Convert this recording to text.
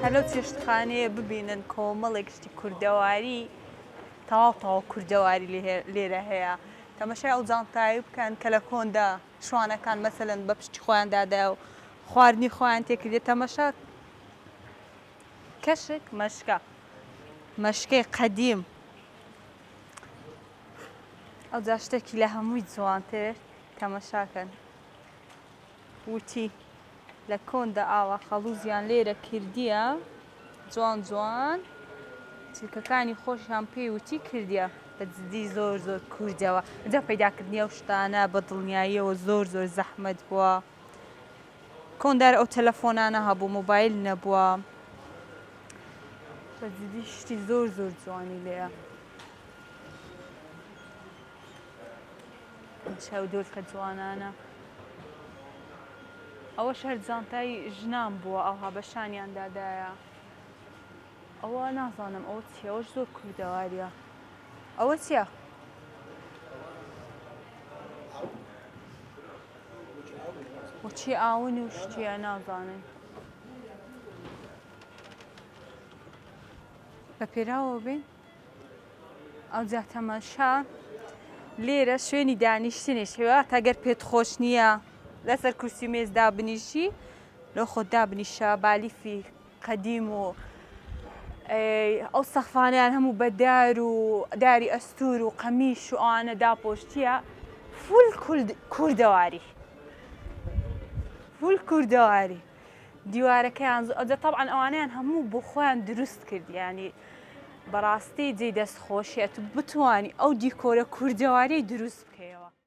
هەر لەو چێشتخانەیە ببینن کۆمەڵێک شتی کوردەواری تەواو تەواو کوردەواری لێرە هەیە تەمەشای ئەو جانتایی بکەن کە لە کۆندا شوانەکان مەسەلەن بە پشتی خۆیان دادایە و خواردنی خۆیان تێکردێت تەمەشا کەشک مەشکە مەشکەی قەدیم ئەو جاشتێکی لە هەمووی جوانتر تەمەشاکەن وتی، لە کۆندا ئاوا خەڵووزیان لێرە کردیە، جوان جوان چلکەکانی خۆشیان پێی وتی کردیە. بە جدی زۆر زۆر کوردەوە. جا پەیداکردنی ئەو شتانە بە دڵنیاییەوە زۆر زۆر زەحمەت بووە. کۆندار ئەو تەلەفۆنانە هەبوو، مۆبایل نەبووە. بە جدی شتی زۆر زۆر جوانی لێیە. چەو دولکە جوانانە. ئەوەش هەر جانتای ژنان بووە ئاها بە شانیان دادایە ئەوە نازانم ئەو چیەوەش زۆر کوردەواریە ئەوە چیە؟ وچی ئاون و شتیە نازانن بە پێراوە بێن ئەوجا تەماشا لێرە شوێنی دانیشتنیش هێوات ئەگەر پێت خۆش نییە لەسەر کورسی و مێز دابنیشی لۆ خۆت دابنیشە بالیفی قەدیم و ئەو سەخفانیان هەموو بەدار و داری ئەستور و قەمی شوانە داپۆشتیە فول کوردەواری فول کوردەواری دیوارەکەیان زۆ ئەجە تەبعەن ئەوانەیان هەموو بۆ خۆیان دروست کرد یانی بەڕاستی جێی دەست خۆشیە تو بتوانی ئەو دیکۆرە کوردەواریەی دروست بکەیەوە.